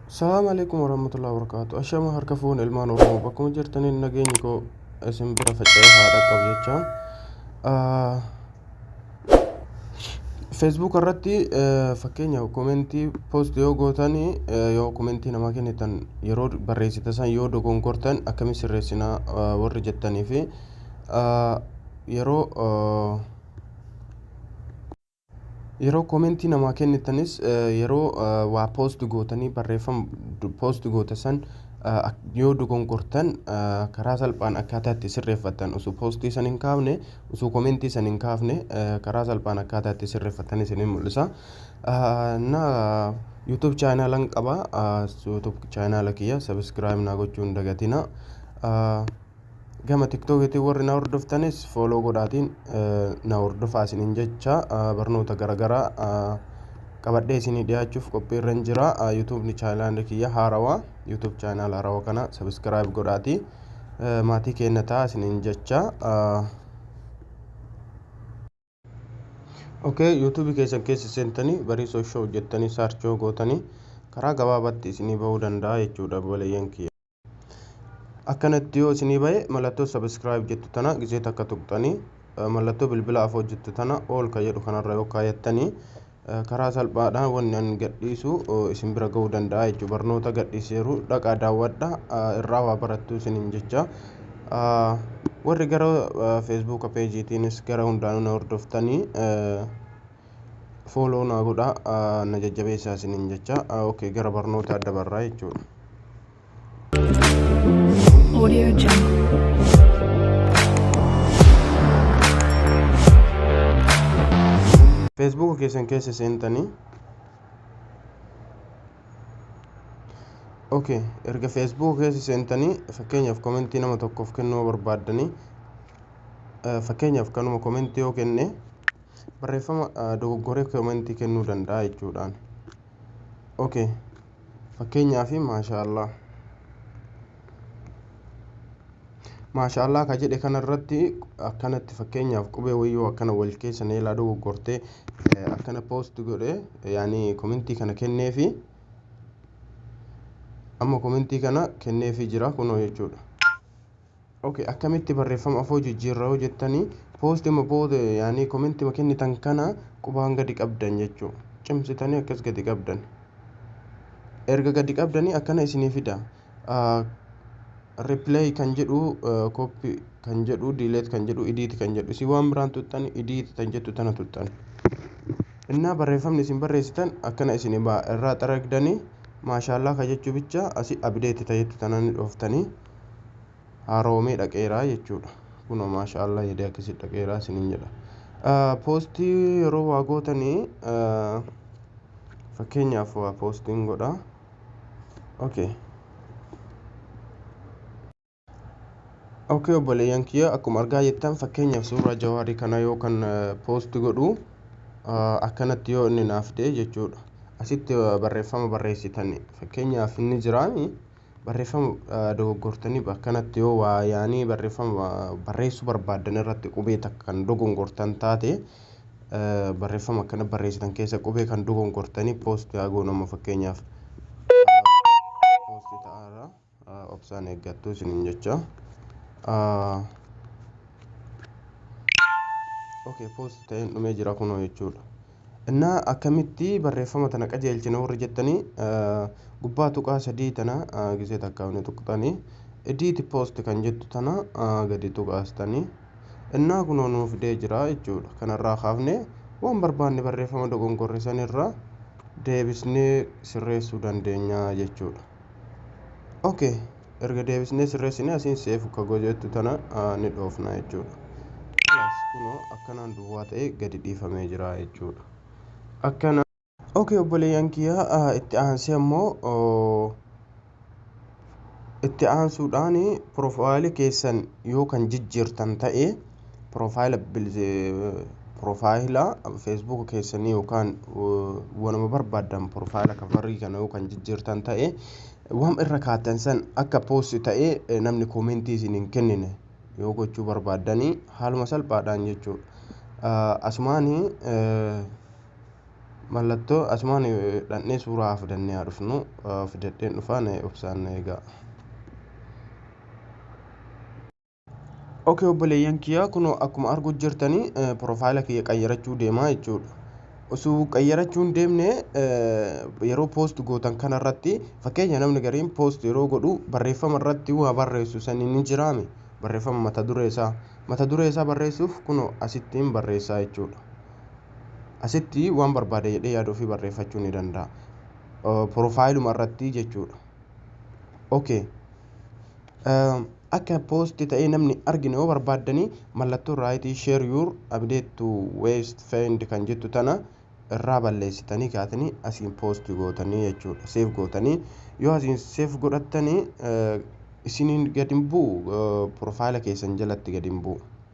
Salaam alaikum warahmatullahi wabarakatuh. Ashama harka fuun ilmaan Oromoo bakkuma jirtaniin nageenyi koo isin bira faca'ee haa dhaqqabu jecha. Feesbuuk irratti fakkeenyaaf komentii poost yoo gootan yoo komentii namaa kennitan yeroo barreessita san yoo dogongortan akkamiin sirreessina warri jettanii fi yeroo Yeroo komentii namaa kennitanis yeroo waa post gootanii barreeffama post goote san yoo dogongortan karaa salphaan akkaataa itti sirreeffattan osoo poostii san hin kaafne osoo komentii san hin kaafne karaa salphaan akkaataa itti sirreeffattan isin hin mul'isa. Na YouTube chaanalan qaba YouTube chaanala kiyya subscribe naa gochuu hin dagatina. gama tiktookiitiin warri na hordoftanis fooloo godhaatiin na hordofaa isiniin jecha barnoota garaagaraa qabadhee isinii dhiyaachuuf qophiirra hin jira yuutuubni chaanaala kiyya haarawa yuutuub chaanaala haarawa kana sabiskiraayib godhaatii maatii keenya ta'a isiniin jecha Okay, YouTube keessan keessa seentanii bariisoo show jettanii search yoo gootanii karaa gabaabaatti isinii bahuu danda'a jechuudha obboleeyyan kiyya. Akkanatti yoo isinii bahe mallattoo subscribe jettu tana gizee takka tuqxanii mallattoo bilbila afoo jettu tana all ka jedhu kanarra yoo kaayattanii karaa salphaadhaan wanni an gadhiisu isin bira ga'uu danda'a jechuudha. Barnoota gadhiiseeru dhaqaa daawwadha irraa waa barattuu isiniin jecha. Warri gara feesbuuka peejiitiinis gara hundaanuu na hordoftanii fooloo naa godhaa na jajjabeessaa isiniin jecha. Okay gara barnootaa dabarraa jechuudha. Audio Jungle. feesbuuka keessan keessa seentanii ok erga feesbuuka keessa seentanii fakkeenyaaf komentii nama tokkoof kennuu barbaaddanii eh, fakkeenyaaf kanuma komentii yoo kenne barreeffama eh, dogoggoree komentii kennuu danda'a jechuudhaan ok fakkeenyaaf maashaallah maashaallah ka jedhe kanarratti akkanatti fakkeenyaaf qubee wayyoo akkana wal keessa neelaa dogoggortee akkana poost godhe yaani komentii kana kenneefi amma komentii kana kenneefi jira kunoo jechuudha Okay akkamitti barreeffama afoo jijjiirra yoo jettanii poostima booda yaanii komentima kennitan kana qubaan gadi qabdan jechuu cimsitanii akkas gadi qabdan erga gadi qabdanii akkana isinii fida replay kan jedhu copy kan jedhu delete kan jedhu edit kan jedhu isin waan biraan tuttan edit tan jettu tana tuttan innaa barreeffamni isin barreessitan akkana isin irraa xaragdanii maashaallaa ka jechuu bicha asi abdeeti ta jettu tanani dhooftanii haaroomee dhaqeeraa jechuudha kunoo maasha allah yadee akkasi dhaqeeraa isinin jedha poostii yeroo waa gootanii fakkeenyaaf waa poostiin godha okay okay obboleeyyan kiyya akkuma argaa jettan fakkeenyaaf suuraa jawaarii kana yoo kan poosti godhu akkanatti yoo inni naaf ta'e jechuudha asitti barreeffama barreessitanii fakkeenyaaf inni jiraanii Barreeffama dogoggortanii bakkanatti yoo waa yaanii barreeffama barreessuu barbaaddan irratti qubee takka kan dogongortan taate barreeffama akkana barreessitan keessa qubee kan dogongortanii poosti haa goonu amma fakkeenyaaf poosti ta'aara obsaan eeggattuu isiniin jecha. Okay, poosti ta'een dhumee jira kunoo jechuudha. Inna akkamitti barreeffama tana qajeelchina warri jettanii gubbaa tuqaa sadii tana gisee takkaa ni tuqxanii ediiti poosti kan jettu tana gadi tuqaastanii innaa kunoo nuu fidee jira jechuudha kanarraa kaafnee waan barbaanne barreeffama dogongorre sanirraa deebisnee sirreessuu dandeenya jechuudha. Okay. erga deebisnee sirreessine asiin seef kagoo jettu tana ni dhoofna jechuudha. Kanaas kunoo akkanaan duwwaa ta'ee gadi dhiifamee jira jechuudha. Akkana. Ok obboleeyyan kiyyaa itti aansee ammoo itti aansuudhaan piroofaayili keessan yoo kan jijjiirtan ta'e piroofaayila piroofaayila feesbuuka keessanii yookaan wanuma barbaaddan piroofaayila kavarrii kana yoo kan jijjiirtan ta'e Wam irra kaattan san akka post ta'ee namni comment isin hin kennine yoo gochuu barbaaddani haaluma salphaadhaan jechuu asumaani mallattoo asumaani dhandhee suuraa fidannee haa dhufnu fidadheen dhufaa na obsaan na eegaa. ok obboleeyyan kiyya kunoo akkuma arguu jirtanii piroofaayila kiyya qayyarachuu deemaa jechuudha osoo qayyarachuu hin deemne yeroo poost gootan kana irratti fakkeenya namni gariin poost yeroo godhu barreeffama irratti waa barreessu sanii ni jiraame barreeffama mata duree isaa mata duree isaa barreessuuf kunoo asitti hin barreessaa jechuudha asitti waan barbaade jedhee yaada ofii barreeffachuu ni danda'a piroofaayiluma irratti jechuudha ok Akka poosti ta'ee namni argine yoo barbaaddani mallattoo raayitii share your update to waste find kan jettu tana irraa balleessitanii kaatanii asiin poosti gootanii jechuudha seef gootanii yoo asiin seef godhattanii isiniin gadi hin bu'u piroofaayila keessan jalatti gadi hin bu'u.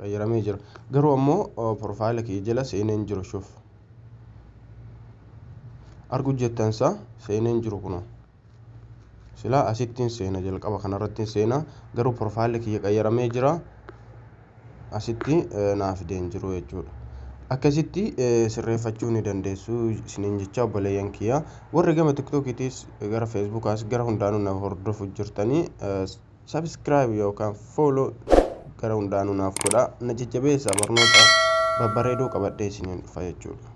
qayyaramee jira garuu ammoo profaayila kiyya jala seenee hin jiru shuf argu jettan isaa seenee hin jiru kunoo silaa asittiin seena jalqaba kanarrattiin seena garuu profaayila kiyya qayyaramee jira asitti naa fidee hin jiru jechuudha akkasitti sirreeffachuu ni dandeessu isiniin jecha obboleeyyan kiyya warri gama tiktookiitiis gara feesbuukaas gara hundaanuu na hordofu jirtanii subscribe yookaan follow gara hundaanuu naaf godhaa na jajjabeessa barnoota babbareedoo qabadhee isiniin dhufa jechuudha.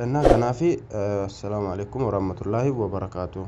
Innaa kanaafi assalaamu alaikum warahmatullaahi wabarakaatuh.